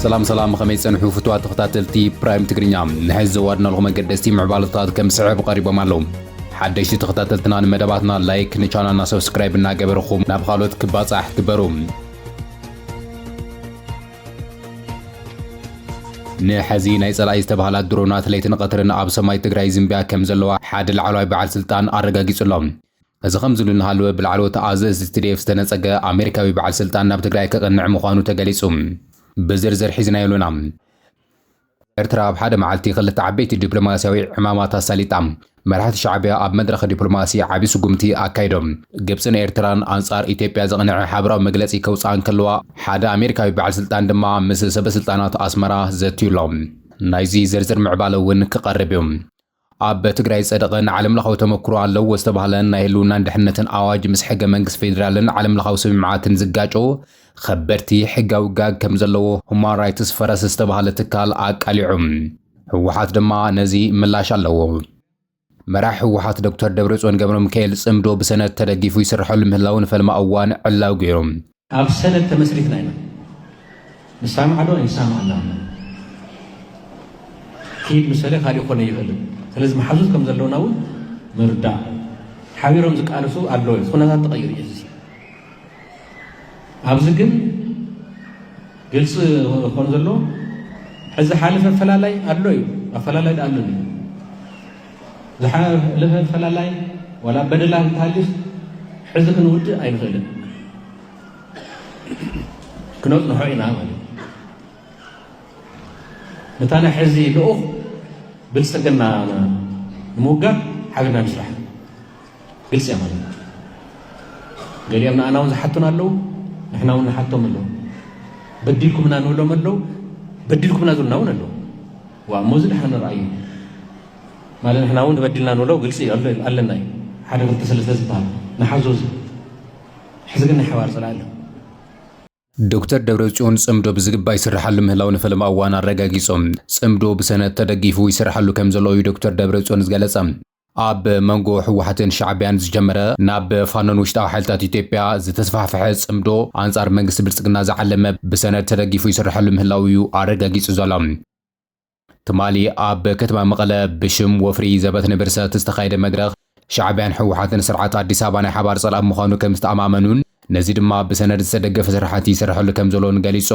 ሰላም ሰላም ከመይ ጸንሑ ፍትዋ ተኸታተልቲ ፕራይም ትግርኛ ንሕዚ ዘዋድናልኹም ኣገደስቲ ምዕባለታት ከም ስዕብ ቀሪቦም ኣለዉ ሓደሽቲ ተኸታተልትና ንመደባትና ላይክ ንቻናልና ሰብስክራይብ እናገበርኹም ናብ ካልኦት ክባጻሕ ግበሩ ንሐዚ ናይ ፀላኢ ዝተብሃላ ድሮናት ለይትን ቐትርን ኣብ ሰማይ ትግራይ ይዝንብያ ከም ዘለዋ ሓደ ላዕለዋይ በዓል ስልጣን ኣረጋጊፁ ኣሎ። እዚ ከምዚሉ እናሃለወ ብላዕለዎት ኣዘዝቲ tdf ዝተነፀገ ኣሜሪካዊ በዓል ስልጣን ናብ ትግራይ ከቕንዕ ምዃኑ ተገሊፁ። ብዝርዝር ሒዝናዮ ኣሎና። ኤርትራ ኣብ ሓደ መዓልቲ ክልተ ዓበይቲ ዲፕሎማስያዊ ዕማማት ኣሳሊጣ። መራሕቲ ሻዕቢያ ኣብ መድረኽ ዲፕሎማሲ ዓቢ ስጉምቲ ኣካይዶም። ግብጽን ኤርትራን ኣንጻር ኢትዮጵያ ዘቕነዐ ሓበራዊ መግለጺ ከውጽኣ እንከለዋ፣ ሓደ ኣሜሪካዊ በዓል ስልጣን ድማ ምስ ሰበስልጣናት ኣስመራ ዘትዩ'ሎ። ናይዚ ዝርዝር ምዕባለ'ውን ክቐርብ'ዩ። ኣብ ትግራይ ዝጸደቐን ዓለምለኻዊ ተመክሮ ኣለዎ ዝተባህለን ናይ ህልውናን ድሕነትን ኣዋጅ ምስ ሕገ መንግስቲ ፌዴራልን ዓለምለኻዊ ስምምዓትን ዝጋጮ ኸበድቲ ሕጋዊ ጋግ ከም ዘለዎ ሁማን ራይትስ ፈረስ ዝተባህለ ትካል ኣቃሊዑ። ህወሓት ድማ ነዚ ምላሽ ኣለዎ። መራሒ ህወሓት ዶክተር ደብረጽዮን ገብረሚካኤል ጽምዶ ብሰነድ ተደጊፉ ይስርሐሉ ምህላዉ ንፈልማ እዋን ዕላዊ ገይሩ። ኣብ ሰነድ ተመስሪትና ኢና ንሳማዕ ዶ ኣይንሳማዕና ኣሎ ኪድ ምሰለ ካሊእ ኮነ ይኽእልን ስለዚ መሓዙት ከም ዘለውና እውን ምርዳእ ሓቢሮም ዝቃለሱ ኣለዎ እዩ ኩነታት ተቐይሩ እዩ እዚ ኣብዚ ግን ግልፂ ኮን ዘሎ ሕዚ ሓለፈ ኣፈላላይ ኣሎ እዩ ኣፈላላይ ዳኣሉን እዩ ዝሓለፈ ፈላላይ ዋላ በደላ እንተሃልዩስ ሕዚ ክንውድእ ኣይንኽእልን ክነፅንሖ ኢና ማለት እዩ ነታ ናይ ሕዚ ልኡኽ ብልፅግና ንምውጋድ ሓቢርና ንስራሕ ግልፂ እያ ማለት እዩ። ገሊኦም ንኣና እውን ዝሓቱና ኣለዉ፣ ንሕና እውን ንሓቶም ኣለዉ። በዲልኩምና ንብሎም ኣለዉ፣ በዲልኩምና ዝብሉና እውን ኣለዉ። ዋ እሞ እዚ ድሓን ንርኣዩ ማለት ንሕና እውን በዲልና ንብሎ ግልፂ ኣለና እዩ ሓደ ክልተ ሰለስተ ዝበሃል ንሓዞ እዚ ሕዚ ግን ናይ ሓባር ፅላኢ ኣሎ ዶክተር ደብረጽዮን ጽምዶ ብዝግባእ ይስርሓሉ ምህላው ንፈለማ እዋን ኣረጋጊጾም ጽምዶ ብሰነድ ተደጊፉ ይስርሓሉ ከም ዘሎ እዩ ዶክተር ደብረጽዮን ዝገለጸ። ኣብ መንጎ ህወሓትን ሻዕቢያን ዝጀመረ ናብ ፋኖን ውሽጣዊ ሓይልታት ኢትዮጵያ ዝተስፋሕፈሐ ጽምዶ ኣንጻር መንግስቲ ብልጽግና ዝዓለመ ብሰነድ ተደጊፉ ይስርሐሉ ምህላዉ እዩ ኣረጋጊጹ ዘሎ። ትማሊ ኣብ ከተማ መቐለ ብሽም ወፍሪ ዘበት ንብርሰት ዝተኻየደ መድረኽ ሻዕቢያን ህወሓትን ስርዓት ኣዲስ ኣበባ ናይ ሓባር ጸላኢ ምዃኑ ከም ዝተኣማመኑን ነዚ ድማ ብሰነድ ዝተደገፈ ስራሕቲ ይስርሐሉ ከም ዘሎን ገሊጹ።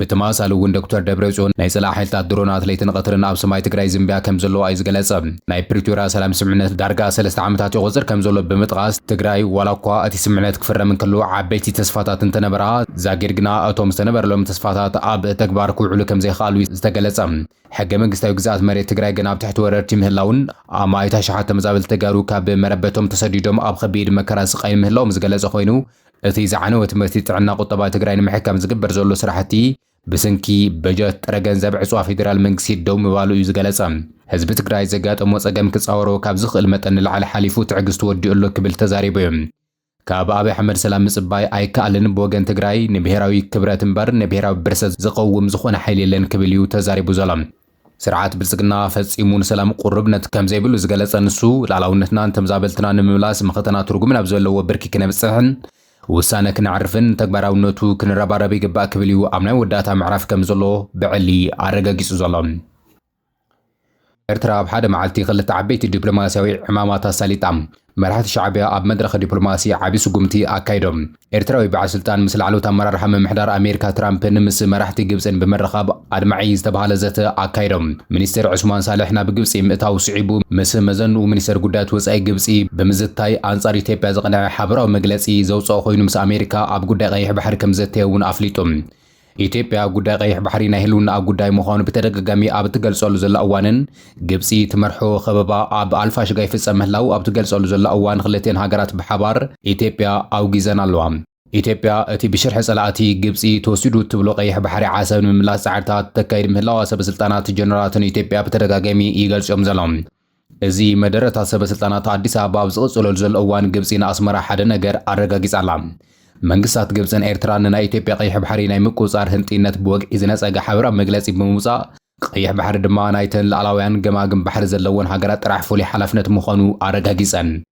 ብተመሳሳሊ እውን ዶክተር ደብረፅዮን ናይ ፀላኢ ሓይልታት ድሮናት ለይትን ቐትርን ኣብ ሰማይ ትግራይ ይዝንብያ ከም ዘለዋ እዩ ዝገለፀ። ናይ ፕሪቶርያ ሰላም ስምምዕነት ዳርጋ ሰለስተ ዓመታት የቖፅር ከም ዘሎ ብምጥቓስ ትግራይ ዋላ እኳ እቲ ስምምዕነት ክፍረም እንከሎ ዓበይቲ ተስፋታት እንተነበራ ዛጊድ ግና እቶም ዝተነበረሎም ተስፋታት ኣብ ተግባር ክውዕሉ ከም ዘይኸኣሉ እዩ ዝተገለፀ። ሕገ መንግስታዊ ግዝኣት መሬት ትግራይ ግን ኣብ ትሕቲ ወረርቲ ምህላዉን ኣማኢት ኣሽሓት ተመዛበልቲ ተጋሩ ካብ መረበቶም ተሰዲዶም ኣብ ኸቢድ መከራን ስቓይን ምህላዎም ዝገለፀ ኾይኑ እቲ ዝዓነወ ትምህርቲ ጥዕና ቁጠባ ትግራይ ንምሕካም ዝግበር ዘሎ ስራሕቲ ብስንኪ በጀት ጥረ ገንዘብ ዕፅዋ ፌዴራል መንግስቲ ደው ምባሉ እዩ ዝገለፀ። ህዝቢ ትግራይ ዘጋጠሞ ፀገም ክፃወሮ ካብ ዝኽእል መጠን ንላዕሊ ሓሊፉ ትዕግስቱ ወዲኡ ኣሎ ክብል ተዛሪቡ እዩ። ካብ ኣብይ ኣሕመድ ሰላም ምፅባይ ኣይከኣልን፣ ብወገን ትግራይ ንብሄራዊ ክብረት እምበር ንብሄራዊ ብርሰት ዝቐውም ዝኾነ ሓይሊ የለን ክብል እዩ ተዛሪቡ ዘሎ። ስርዓት ብልጽግና ፈጺሙ ንሰላም ቁርብነት ከም ዘይብሉ ዝገለጸ ንሱ፣ ልኣላውነትናን ተምዛበልትና ንምምላስ መኸተና ትርጉም ናብ ዘለዎ ብርኪ ክነብጽሕን ውሳነ ክነዕርፍን ንተግባራውነቱ ክንረባረብ ይግባእ ክብል'ዩ ኣብ ናይ ወዳእታ ምዕራፍ ከም ዘሎ ብዕሊ ኣረጋጊጹ ዘሎ። ኤርትራ ኣብ ሓደ መዓልቲ ክልተ ዓበይቲ ዲፕሎማስያዊ ዕማማት ኣሳሊጣ። መራሕቲ ሻዕቢያ ኣብ መድረኽ ዲፕሎማሲ ዓቢ ስጉምቲ ኣካይዶም። ኤርትራዊ በዓል ስልጣን ምስ ላዕለዎት ኣመራርሓ ምምሕዳር ኣሜሪካ ትራምፕን ምስ መራሕቲ ግብጽን ብምርኻብ ኣድማዒ ዝተብሃለ ዘተ ኣካይዶም። ሚኒስተር ዑስማን ሳልሕ ናብ ግብጺ ምእታዉ ስዒቡ ምስ መዘንኡ ሚኒስተር ጉዳያት ወጻኢ ግብጺ ብምዝታይ ኣንጻር ኢትዮጵያ ዝቐንዐ ሓበራዊ መግለጺ ዘውጸኦ ኮይኑ ምስ ኣሜሪካ ኣብ ጉዳይ ቀይሕ ባሕሪ ከምዘተየ'ውን ኣፍሊጡ። ኢትዮጵያ ጉዳይ ቀይሕ ባሕሪ ናይ ህልውናኣ ጉዳይ ምዃኑ ብተደጋጋሚ ኣብ እትገልጸሉ ዘላ እዋንን ግብጺ ትመርሖ ከበባ ኣብ ኣልፋሽጋ ይፍጸም ምህላው ኣብ ትገልጸሉ ዘላ እዋን ክልቲኤን ሃገራት ብሓባር ኢትዮጵያ ኣውጊዘን ኣለዋ። ኢትዮጵያ እቲ ብሽርሒ ጸላእቲ ግብጺ ተወሲዱ እትብሎ ቀይሕ ባሕሪ ዓሰብ ንምምላስ ጻዕርታት ተካይድ ምህላዋ ሰበስልጣናትን ጀነራላትን ኢትዮጵያ ብተደጋጋሚ ይገልጹ እዮም ዘሎም። እዚ መደረ እታ ሰበ ስልጣናት ኣዲስ ኣበባ ኣብ ዝቕጽለሉ ዘሎ እዋን ግብጺ ንኣስመራ ሓደ ነገር ኣረጋጊጻ ኣላ። መንግስታት ግብጽን ኤርትራን ንናይ ኢትዮጵያ ቀይሕ ባሕሪ ናይ ምቁጽጻር ህንጥይነት ብወግዒ ዝነጸገ ሓበራዊ መግለጺ ብምውጻእ ቀይሕ ባሕሪ ድማ ናይተን ልኣላውያን ገማግም ባሕሪ ዘለወን ሃገራት ጥራሕ ፍሉይ ሓላፍነት ምዃኑ ኣረጋጊጸን።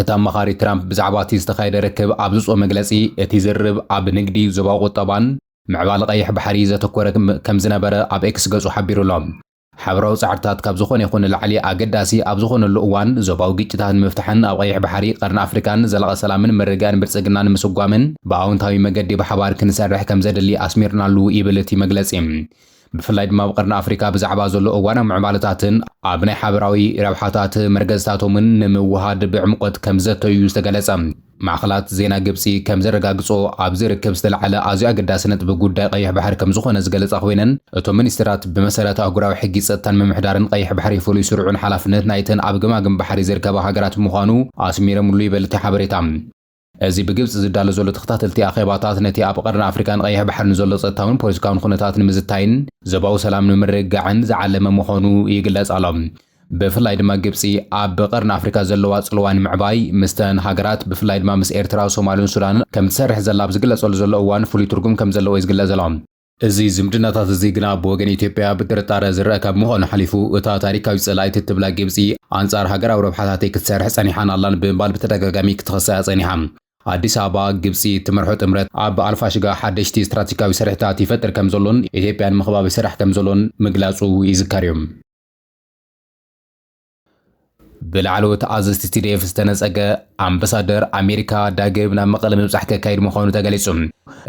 እቲ ኣማኻሪ ትራምፕ ብዛዕባ እቲ ዝተኻየደ ርክብ ኣብ ዝጾ መግለጺ፣ እቲ ዝርርብ ኣብ ንግዲ፣ ዞባዊ ቁጠባን ምዕባለ ቀይሕ ባሕሪ ዘተኮረ ከም ዝነበረ ኣብ ኤክስ ገጹ ሓቢሩ ኣሎ። ሓበራዊ ጻዕርታት ካብ ዝኾነ ይኹን ንላዕሊ ኣገዳሲ ኣብ ዝኾነሉ እዋን፣ ዞባዊ ግጭታት ንምፍታሕን ኣብ ቀይሕ ባሕሪ፣ ቀርኒ ኣፍሪቃን ዘላቒ ሰላምን ምርግጋእን ብልጽግና ንምስጓምን ብኣወንታዊ መገዲ ብሓባር ክንሰርሕ ከም ዘድሊ ኣስሚርናሉ ይብል እቲ መግለጺ። ብፍላይ ድማ ኣብ ቐርኒ ኣፍሪካ ብዛዕባ ዘሎ እዋናዊ ምዕባለታትን ኣብ ናይ ሓበራዊ ረብሓታት መርገዝታቶምን ንምውህሃድ ብዕምቖት ከምዘተዩ እዩ ዝተገለፀ። ማዕኸናት ዜና ግብፂ ከምዘረጋግፅኦ ኣብዚ ርክብ ዝተልዓለ ኣዝዩ ኣገዳሲ ነጥቢ ጉዳይ ቐይሕ ባሕሪ ከምዝኾነ ዝገለፃ ኮይነን እቶም ሚኒስትራት ብመሰረት ኣህጉራዊ ሕጊ ፀጥታን ምምሕዳርን ቐይሕ ባሕሪ ፍሉይ ስሩዕን ሓላፍነት ናይተን ኣብ ገማግም ባሕሪ ዝርከባ ሃገራት ምዃኑ ኣስሚረምሉ ይበል እቲ ሓበሬታ። እዚ ብግብጺ ዝዳሎ ዘሎ ተኸታተልቲ ኣኼባታት ነቲ ኣብ ቐርኒ ኣፍሪቃን ቐይሕ ባሕርን ዘሎ ጸጥታዊን ፖለቲካዊን ኹነታት ንምዝታይን ዞባዊ ሰላም ንምርግጋዕን ዝዓለመ ምዃኑ ይግለጽ ኣሎ። ብፍላይ ድማ ግብጺ ኣብ ቐርኒ ኣፍሪቃ ዘለዋ ጽልዋ ንምዕባይ ምስተን ሃገራት ብፍላይ ድማ ምስ ኤርትራ፣ ሶማልን ሱዳንን ከምትሰርሕ ዘላ ኣብ ዝግለጸሉ ዘሎ እዋን ፍሉይ ትርጉም ከምዘለዎ'ዩ ዝግለጽ ዘሎ። እዚ ዝምድናታት እዚ ግና ብወገን ኢትዮጵያ ብጥርጣረ ዝረኣ ካብ ምዃኑ ሓሊፉ እታ ታሪካዊት ጸላኢት እትብላ ግብጺ ኣንጻር ሃገራዊ ረብሓታተይ ክትሰርሕ ጸኒሓን ኣላን ብምባል ብተደጋጋሚ ክትኸሳ'ያ ጸኒሓ። ኣዲስ ኣበባ፣ ግብጺ እትመርሖ ጥምረት ኣብ ኣልፋሽጋ ሓደሽቲ ስትራቴጂካዊ ስርሒታት ይፈጥር ከምዘሎን ኢትዮጵያ ንምኽባብ ይሰርሕ ከምዘሎን ምግላጹ ይዝከር'ዩ። ብላዕለዎት ኣዘዝቲ ቲዲኤፍ ዝተነፀገ ኣምበሳደር ኣሜሪካ ዳግም ናብ መቐለ ምብፃሕ ከካይድ ምዃኑ ተገሊፁ።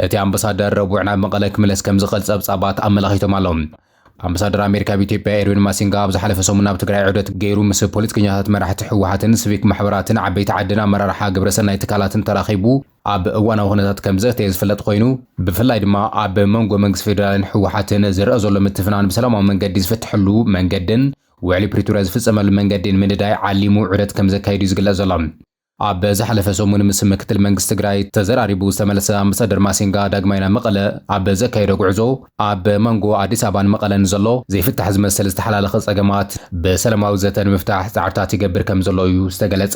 እቲ ኣምበሳደር ረቡዕ ናብ መቐለ ክምለስ ከምዝኽእል ፀብፃባት ኣመላኺቶም ኣለዉ። ኣምበሳደር ኣሜሪካ ኣብ ኢትዮጵያ ኤርዊን ማሲንጋ ኣብ ዝሓለፈ ሰሙን ኣብ ትግራይ ዑደት ገይሩ ምስ ፖለቲከኛታት፣ መራሕቲ ህወሓትን ስቪክ ማሕበራትን ዓበይቲ ዓድን ኣመራርሓ ግብረሰናይ ትካላትን ተራኺቡ ኣብ እዋናዊ ኩነታት ከምዘተየ ዝፍለጥ ኮይኑ ብፍላይ ድማ ኣብ መንጎ መንግስቲ ፌዴራልን ህወሓትን ዝረኣ ዘሎ ምትፍናን ብሰላማዊ መንገዲ ዝፍተሐሉ መንገድን ውዕሊ ፕሪቶርያ ዝፍፀመሉ መንገዲ ንምንዳይ ዓሊሙ ዑደት ከምዘካየድ እዩ ዝግለፅ ዘሎ። ኣብ ዝሓለፈ ሰሙን ምስ ምክትል መንግስቲ ትግራይ ተዘራሪቡ ዝተመለሰ ኣምበሳደር ማሲንጋ ዳግማይ ናብ መቐለ ኣብ ዘካየዶ ጉዕዞ ኣብ መንጎ ኣዲስ ኣበባን መቐለን ንዘሎ ዘይፍታሕ ዝመስል ዝተሓላለኸ ፀገማት ብሰለማዊ ዘተ ንምፍታሕ ፃዕርታት ይገብር ከምዘሎ እዩ ዝተገለፀ።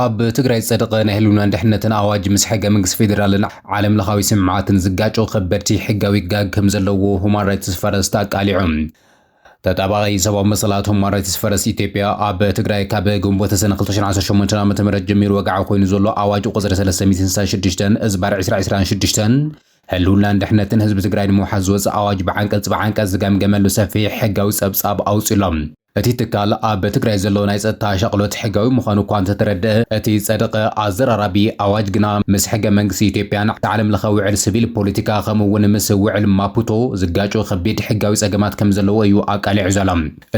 ኣብ ትግራይ ዝጸደቐ ናይ ህልውናን ድሕነትን ኣዋጅ ምስ ሕገ መንግስቲ ፌዴራልን ዓለም ለኻዊ ስምምዓትን ዝጋጮ ከበድቲ ሕጋዊ ጋግ ከም ዘለዎ ሁማን ራይትስ ፈረስት ኣቃሊዑ። ተጣባቒ ሰብኣዊ መሰላት ሁማን ራይትስ ፈረስት ኢትዮጵያ ኣብ ትግራይ ካብ ግንቦት ሰነ 2018 ዓ.ም ጀሚሩ ወግዓዊ ኮይኑ ዘሎ ኣዋጅ ቁጽሪ 366 እዝባር 2026 ህልውናን ድሕነትን ህዝቢ ትግራይ ንምውሓስ ዝወፀ ኣዋጅ ብዓንቀፅ ብዓንቀፅ ዝገምገመሉ ሰፊሕ ሕጋዊ ፀብፃብ ኣውፂኡ ኣሎ። እቲ ትካል ኣብ ትግራይ ዘሎ ናይ ፀጥታ ሻቕሎት ሕጋዊ ምዃኑ እኳ እንተተረድኣ፣ እቲ ዝፀደቐ ኣዘራራቢ ኣዋጅ ግና ምስ ሕገ መንግስቲ ኢትዮጵያን እቲ ዓለም ለኸ ውዕል ስቪል ፖለቲካ ከምኡ እውን ምስ ውዕል ማፑቶ ዝጋጮ ከቢድ ሕጋዊ ፀገማት ከም ዘለዎ እዩ ኣቃሊዑ ዘሎ።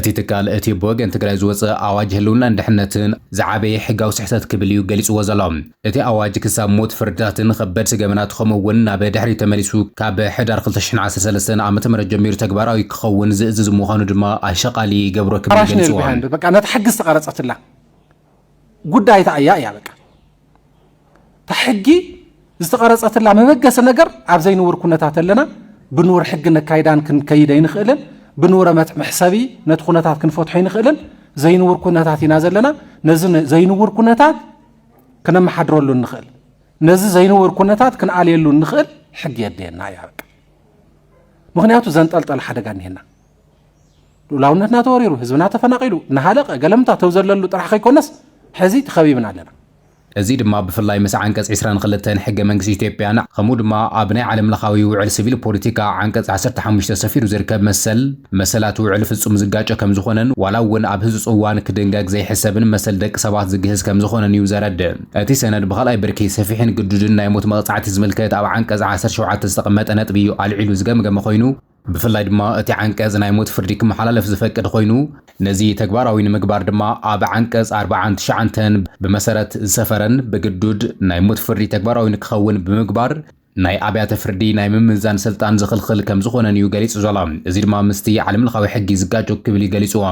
እቲ ትካል እቲ ብወገን ትግራይ ዝወፀ ኣዋጅ ህልውናን ድሕነትን ዝዓበየ ሕጋዊ ስሕተት ክብል እዩ ገሊፅዎ ዘሎ። እቲ ኣዋጅ ክሳብ ሞት፣ ፍርድታትን ኸበድቲ ገበናት ኸምኡ እውን ናብ ድሕሪት ተመሊሱ ካብ ሕዳር ክልተ ሽሕን ዓሰርተ ሰለስተን ዓ.ም ጀሚሩ ተግባራዊ ክኸውን ዝእዝዝ ምዃኑ ድማ ኣሸቓሊ ይገብሮ ክብል ገሊፅዋ። ነታ ሕጊ ዝተቐረፀትላ ጉዳይ እታ እያ እያ በቃ እታ ሕጊ ዝተቐረፀትላ መበገሲ ነገር ኣብ ዘይንውር ኩነታት ኣለና ብንውር ሕጊ ነካይዳን ክንከይድ ኣይንኽእልን ብንውረ መሕሰቢ ነቲ ኩነታት ክንፈትሖ ኣይንኽእልን ዘይንውር ኩነታት ኢና ዘለና ነዚ ዘይንውር ኩነታት ክነመሓድረሉ እንኽእል ነዚ ዘይንቡር ኩነታት ክንኣልየሉ እንኽእል ሕጊ የድልየና እያ በቃ ምክንያቱ ዘንጠልጠለ ሓደጋ እኒሄና ልኡላውነትና ተወሪሩ ህዝብና ተፈናቂሉ እናሃለቀ ገለምታ ተው ዘለሉ ጥራሕ ከይኮነስ ሕዚ ተኸቢብና ኣለና እዚ ድማ ብፍላይ ምስ ዓንቀጽ 22 ሕገ መንግስቲ ኢትዮጵያን ከምኡ ድማ ኣብ ናይ ዓለም ለኻዊ ውዕል ሲቪል ፖለቲካ ዓንቀጽ 15 ሰፊሩ ዝርከብ መሰል መሰላት ውዕል ፍጹም ዝጋጮ ከም ዝኾነን ዋላ እውን ኣብ ህጹጽ እዋን ክድንገግ ዘይሕሰብን መሰል ደቂ ሰባት ዝግህስ ከም ዝኾነን እዩ ዘረድእ። እቲ ሰነድ ብኻልኣይ ብርኪ ሰፊሕን ግዱድን ናይ ሞት መቕጻዕቲ ዝምልከት ኣብ ዓንቀጽ ዓሰርተ ሸውዓተ ዝተቐመጠ ነጥቢ እዩ ኣልዒሉ ዝገምገመ ኮይኑ፣ ብፍላይ ድማ እቲ ዓንቀጽ ናይ ሞት ፍርዲ ክመሓላለፍ ዝፈቅድ ኮይኑ፣ ነዚ ተግባራዊ ንምግባር ድማ ኣብ ዓንቀጽ ኣርባዓን ትሽዓንተን ብመሰረት ዝሰፈረን ብግዱድ ናይ ሞት ፍርዲ ተግባራዊ ንክኸውን ብምግባር፣ ናይ ኣብያተ ፍርዲ ናይ ምምዛን ስልጣን ዝኽልኽል ከም ዝኾነን እዩ ገሊጹ ዘሎ። እዚ ድማ ምስቲ ዓለምለኻዊ ሕጊ ዝጋጮ ክብል እዩ ገሊጹዎ።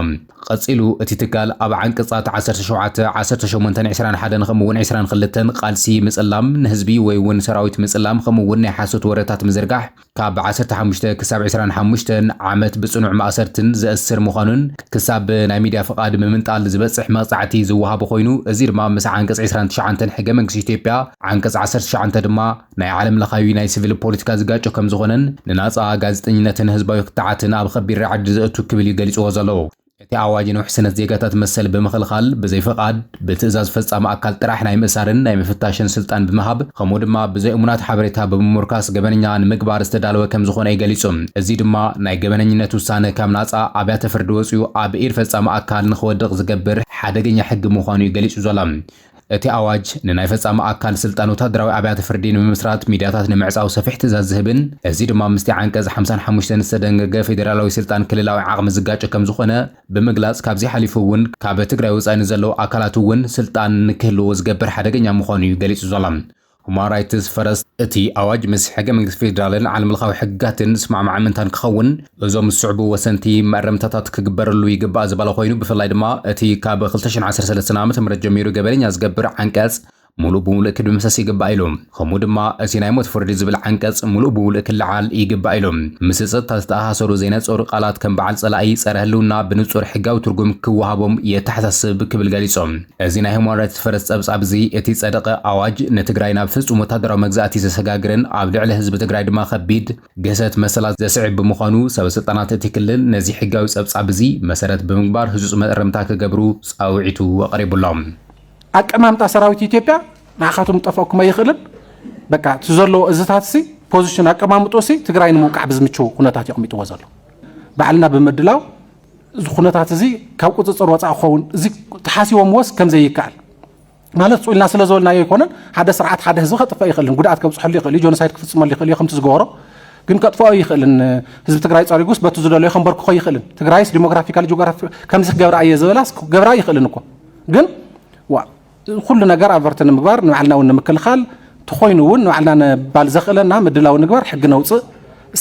ቐጺሉ እቲ ትካል ኣብ ዓንቀጻት ዓሰርተ ሸውዓተ፣ ዓሰርተ ሸሞንተን ዕስራን ሓደን ከምኡ እውን ዕስራን ክልተን ቓልሲ ምጽላም ንህዝቢ ወይ እውን ሰራዊት ምጽላም ከምኡ እውን ናይ ሓሶት ወረታት ምዝርጋሕ ካብ ዓሰርተ ሓሙሽተ ክሳብ ዕስራን ሓሙሽተን ዓመት ብጽኑዕ ማእሰርትን ዘእስር ምዃኑን ክሳብ ናይ ሚድያ ፍቓድ ምምንጣል ዝበጽሕ መቕጻዕቲ ዝወሃቦ ኮይኑ እዚ ድማ ምስ ዓንቀጽ ዕስራን ትሽዓንተን ሕገ መንግስቲ ኢትዮጵያ ዓንቀጽ ዓሰርተ ትሽዓተ ድማ ናይ ዓለም ለኻዊ ናይ ስቪል ፖለቲካ ዝጋጮ ከም ዝኾነን ንናጻ ጋዜጠኝነትን ህዝባዊ ክትዓትን ኣብ ኸቢድ ራዕዲ ዘእቱ ክብል እዩ ገሊጽዎ ዘሎ። እቲ ኣዋጅ ንውሕስነት ዜጋታት መሰል ብምኽልኻል፣ ብዘይ ፍቓድ፣ ብትእዛዝ ፈጻሚ ኣካል ጥራሕ ናይ ምእሳርን ናይ ምፍታሽን ስልጣን ብምሃብ፣ ከምኡ ድማ ብዘይ እሙናት ሓበሬታ ብምሙርካስ ገበነኛ ንምግባር ዝተዳለወ ከም ዝኾነ እዩ ገሊጹ። እዚ ድማ ናይ ገበነኝነት ውሳነ ካብ ናጻ ኣብያተ ፍርዲ ወጺኡ ኣብ ኢድ ፈጻሚ ኣካል ንኽወድቕ ዝገብር ሓደገኛ ሕጊ ምዃኑ እዩ ገሊጹ ዘሎ። እቲ ኣዋጅ፣ ንናይ ፈጻሚ ኣካል ስልጣን ወተሃደራዊ ኣብያተ ፍርዲ ንምምስራት፣ ሚድያታት ንምዕጻው ሰፊሕ ትእዛዝ ዝህብን እዚ ድማ ምስቲ ዓንቀጽ ሓምሳን ሓሙሽተን ዝተደንገገ ፌደራላዊ ስልጣን ክልላዊ ዓቕሚ ዝጋጮ ከምዝኾነ ብምግላጽ ካብዚ ሓሊፉ እውን ካብ ትግራይ ወጻኢ ንዘለዉ ኣካላት እውን ስልጣን ንክህልዎ ዝገብር ሓደገኛ ምዃኑ እዩ ገሊጹ ዘሎ። ሁማን ራይትስ ፈረስት እቲ ኣዋጅ ምስ ሕገ-መንግስቲ ፌዴራልን ዓለምለኻዊ ሕግጋትን ዝስማዕማዕ ምእንታን ክኸውን እዞም ዝስዕቡ ወሰንቲ መእረምታታት ክግበረሉ ይግባእ ዝበለ ኮይኑ ብፍላይ ድማ እቲ ካብ ክልተ ሽሕን ዓሰርተ ሰለስተን ዓ.ም ጀሚሩ ገበነኛ ዝገብር ዓንቀፅ ሙሉእ ብሙሉእ ክድምሰስ ይግባእ ኢሉ። ከምኡ ድማ እቲ ናይ ሞት ፍርዲ ዝብል ዓንቀፅ ሙሉእ ብሙሉእ ክለዓል ይግባእ ኢሉ። ምስ ፀጥታ ዝተኣሳሰሩ ዘይነፀሩ ቃላት ከም በዓል ፀላኢ፣ ፀረ ህልውና ብንፁር ሕጋዊ ትርጉም ክወሃቦም የተሓሳስብ ክብል ገሊፁ። እዚ ናይ ሁማን ራይትስ ፈረስ ጸብጻብ እዚ እቲ ጸደቐ ኣዋጅ ንትግራይ ናብ ፍጹም ወታደራዊ መግዛእቲ ዘሰጋግርን ኣብ ልዕሊ ህዝቢ ትግራይ ድማ ከቢድ ግህሰት መሰላት ዘስዕብ ብምዃኑ ሰበ ስልጣናት እቲ ክልል ነዚ ሕጋዊ ጸብጻብ እዚ መሰረት ብምግባር ህጹጽ መእረምታ ክገብሩ ጻውዒቱ ኣቕሪቡ'ሎ። ኣቀማምጣ ሰራዊት ኢትዮጵያ ንዓኻትኩም ክጠፍኣኩም ኣይኽእልን። በቃ እቲ ዘለዎ እዝታትሲ ፖዚሽን ኣቀማምጦሲ ትግራይ ንምውቃዕ ብዝምችው ኩነታት የቕሚጥዎ ዘሎ ባዕልና ብምድላው እዚ ኩነታት እዚ ካብ ቁፅፅር ወፃእ ክኸውን እዚ ተሓሲቦምዎስ ከም ዘይከኣል ማለት ፁ ኢልና ስለ ዝበልናዮ ኣይኮነን ሓደ ስርዓት ሓደ ህዝቢ ከጥፍእ ይኽእልን ጉድኣት ከብፅሐሉ ይኽእል እዩ ጆኖሳይድ ክፍፅመሉ ይኽእል እዩ ከምቲ ዝገበሮ ግን ከጥፍኦ ይኽእልን ህዝቢ ትግራይ ፀሪጉስ በቲ ዝደለዮ ከንበርክኾ ይኽእልን ትግራይስ ዲሞግራፊካሊ ጂኦግራፊ ከምዚ ክገብራ እየ ዝበላስ ክገብራ ይኽእልን እኮ ግን ኩሉ ነገር ኣቨርቲ ንምግባር ንባዕልና እውን ንምክልኻል ተኾይኑ እውን ንባዕልና ንባል ዘኽእለና ምድላው ንግበር ሕጊ ነውፅእ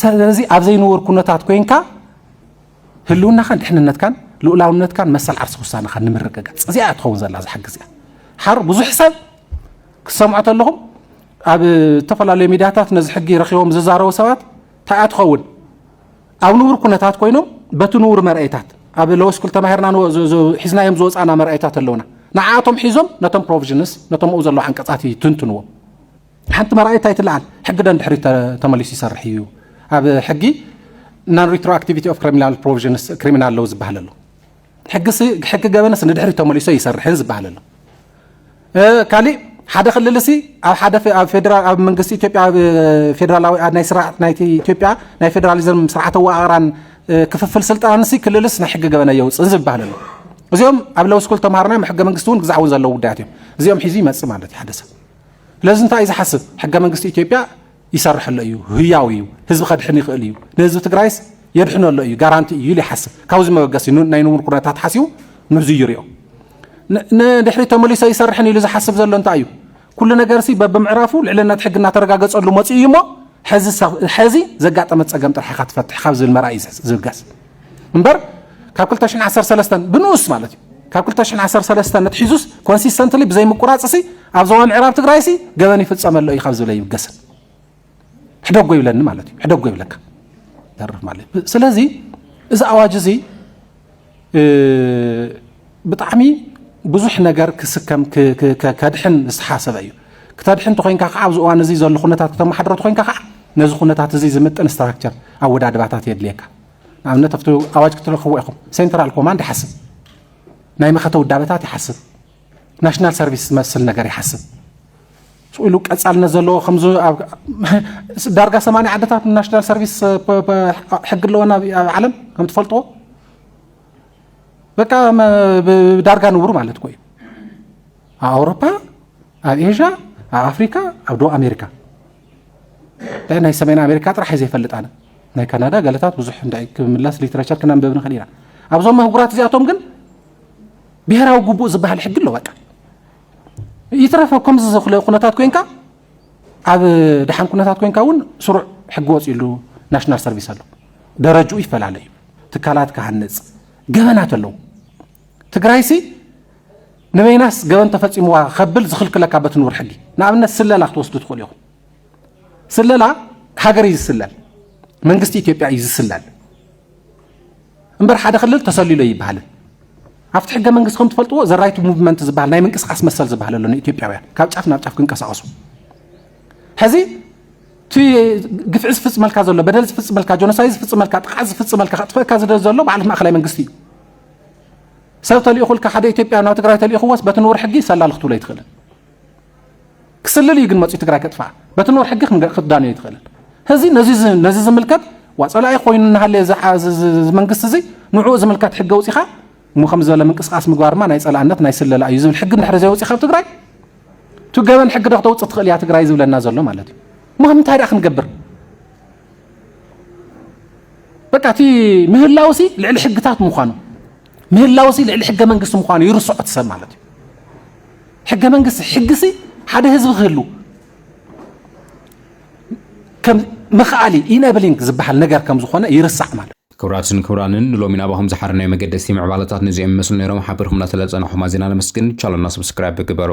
ስለዚ ኣብ ዘይንውር ኩነታት ኮይንካ ህልውናኻን ድሕንነትካን ልኡላውነትካን መሰል ዓርሰ ውሳነኻን ንምርግጋፅ እዚኣ እያ ትኸውን ዘላ ዝሓ ግዜ ሓር ብዙሕ ሰብ ክሰምዖ ተለኹም ኣብ ዝተፈላለዩ ሚዲያታት ነዚ ሕጊ ረኪቦም ዝዛረቡ ሰባት እንታይ እያ ትኸውን ኣብ ንቡር ኩነታት ኮይኖም በቲ ንቡር መርኣይታት ኣብ ለወስኩል ተማሂርና ሒዝናዮም ዝወፃና መርኣይታት ኣለውና ንዓኣቶም ሒዞም ነቶም ፕሮቪዥንስ ነቶም ኣብኡ ዘለዉ ዓንቀፃት ይትንትንዎም ሓንቲ መርኣየት ኣይትለዓል ሕጊ ደንድሕሪ ተመሊሱ ይሰርሕ እዩ ኣብ ሕጊ ናን ሪትሮኣክቲቪቲ ኦፍ ክሪሚናል ፕሮቪዥንስ ክሪሚናል ለው ዝበሃል ኣሎ ሕጊ ገበንስ ንድሕሪ ተመሊሶ ይሰርሕን ዝበሃል ኣሎ ካሊእ ሓደ ክልል ሲ ኣብ ሓደ ኣብ ፌደራል ኣብ መንግስቲ ኢትዮጵያ ኣብ ፌደራላዊ ናይ ስርዓት ናይቲ ኢትዮጵያ ናይ ፌደራሊዝም ስርዓተ ኣወቃቕራን ክፍፍል ስልጣን ሲ ክልልስ ናይ ሕጊ ገበነ የውፅእን ዝበሃል ኣሎ እዚኦም ኣብ ለው ስኩል ተምሃርና ሕገ መንግስቲ እውን ግዛዕ እውን ዘለዉ ጉዳያት እዮም እዚኦም ሒዙ ይመፅእ ማለት እዩ ሓደ ሰብ ስለዚ እንታይ እዩ ዝሓስብ? ሕገ መንግስቲ ኢትዮጵያ ይሰርሕ ኣሎ እዩ፣ ህያው እዩ፣ ህዝቢ ከድሕን ይኽእል እዩ፣ ንህዝቢ ትግራይስ የድሕኖ ኣሎ እዩ፣ ጋራንቲ እዩ ኢሉ ይሓስብ። ካብዚ መበገሲ ናይ ንቡር ኩነታት ሓሲቡ ንዙ ይሪኦ። ንድሕሪ ተመሊሶ ይሰርሕን ኢሉ ዝሓስብ ዘሎ እንታይ እዩ? ኩሉ ነገርሲ በብምዕራፉ ልዕልነት ሕጊ እናተረጋገፀሉ መፂኡ እዩ እሞ ሕዚ ዘጋጠመ ፀገም ጥራሕ ኢኻ ትፈትሕ ካብ ዝብል መርኣይ እዩ ዝብገስ። እምበር ካብ 2013 ብንኡስ ማለት እዩ ካብ 2013 ነትሒዙስ ኮንሲስተንትሊ ብዘይምቁራፅሲ ኣብ ዞባ ምዕራብ ትግራይሲ ገበን ይፍፀመሎ እዩ ካብ ዝብለ ይብገስን ሕደጎ ይብለኒ ማለት እዩ ሕደጎ ይብለካ ተርፍ ማለት እዩ ስለዚ እዚ ኣዋጅ እዚ ብጣዕሚ ብዙሕ ነገር ክስከም ከድሕን ዝተሓሰበ እዩ ክተድሕን ተኮይንካ ከዓ ኣብዚ እዋን እዚ ዘሎ ኩነታት ክተመሓድሮ ተኮይንካ ከዓ ነዚ ኩነታት እዚ ዝምጥን ስትራክቸር ኣወዳድባታት የድልየካ ንኣብነት ኣብቲ ኣዋጅ ክትረኽብዎ ኢኹም ሴንትራል ኮማንድ ይሓስብ ናይ መኸተ ውዳበታት ይሓስብ ናሽናል ሰርቪስ ዝመስል ነገር ይሓስብ ኢሉ ቀፃልነት ዘለዎ ከምዚ ዳርጋ ሰማንያ ዓድታት ናሽናል ሰርቪስ ሕጊ ኣለወን ኣብ ዓለም ከም ትፈልጥዎ በቃ ዳርጋ ንቡር ማለት እኮ እዩ ኣብ ኣውሮፓ ኣብ ኤዥያ ኣብ ኣፍሪካ ኣብ ደቡብ ኣሜሪካ ናይ ሰሜን ኣሜሪካ ጥራሕ እዩ ዘይፈልጥ ኣነ ናይ ካናዳ ገለታት ብዙሕ እንዳ ክምለስ ሊትረቸር ክነንበብ ንኽእል ኢና ኣብዞም ኣህጉራት እዚኣቶም ግን ብሄራዊ ግቡእ ዝበሃል ሕጊ ኣሎ በቃ ይትረፈ ከምዚ ዘኽለ ኩነታት ኮንካ ኣብ ድሓን ኩነታት ኮንካ እውን ስሩዕ ሕጊ ወፅሉ ናሽናል ሰርቪስ ኣሎ ደረጅኡ ይፈላለ እዩ ትካላት ክሃንፅ ገበናት ኣለዉ ትግራይሲ ንበይናስ ገበን ተፈጺምዋ ከብል ዝኽልክለካ በቲ ንቡር ሕጊ ንኣብነት ስለላ ክትወስዱ ትኽእሉ ኢኹም። ስለላ ሃገር እዩ ዝስለል፣ መንግስቲ ኢትዮጵያ እዩ ዝስለል እምበር ሓደ ክልል ተሰሊሎ ይበሃልን ኣብቲ ሕገ መንግስቲ ከም ትፈልጥዎ ዘራይቱ ሙቭመንት ዝበሃል ናይ ምንቅስቃስ መሰል ዝበሃል ኣሎ ንኢትዮጵያውያን ካብ ጫፍ ናብ ጫፍ ክንቀሳቀሱ ሕዚ እቲ ግፍዒ ዝፍፅመልካ ዘሎ በደል ዝፍፅመልካ ጆኖሳይ ዝፍፅመልካ ጥቃዕ ዝፍፅመልካ ከጥፈእካ ዝደል ዘሎ በዓል ማእከላይ መንግስቲ እዩ ሰብ ተልኢኹልካ ሓደ ኢትዮጵያ ናብ ትግራይ ተልኢኹዎስ በቲ ንቡር ሕጊ ሰላሊ ክትብሎ ኣይትኽእልን። ክስልል እዩ ግን መፅኡ ትግራይ ከጥፍኣ በቲ ንቡር ሕጊ ክትዳንዮ ኣይትኽእልን። እዚ ነዚ ዝምልከት ዋ ፀላኢ ኮይኑ እናሃለየ መንግስቲ እዚ ንዕኡ ዝምልከት ሕገ ውፂኻ እሞ ከምዚ ዝበለ ምንቅስቃስ ምግባር ድማ ናይ ፀላእነት ናይ ስለላ እዩ ዝብል ሕጊ እንድሕሪ ዘይወፂ ካብ ትግራይ እቲ ገበን ሕጊ ዶ ክተውፅእ ትኽእል እያ ትግራይ ዝብለና ዘሎ ማለት እዩ። እሞ እንታይ ደኣ ክንገብር በቃ እቲ ምህላውሲ ልዕሊ ሕግታት ምዃኑ ምህላውሲ ልዕሊ ሕገ መንግስቲ ምዃኑ ይርስዖ እቲ ሰብ ማለት እዩ ሕገ መንግስቲ ሕግሲ ሓደ ህዝቢ ክህሉ ከም መኽኣሊ ኢነብሊንግ ዝበሃል ነገር ከም ዝኾነ ይርሳዕ ማለት ክብራትን ክብራንን ንሎሚ ናባኹም ዝሓር ናይ መገደስቲ ምዕባለታት ነዚኦም ይመስሉ ነይሮም ሓቢርኩምና ስለዝፀናሕኹም ኣዚና ነመስግን ቻለና ሰብስክራይብ ግበሩ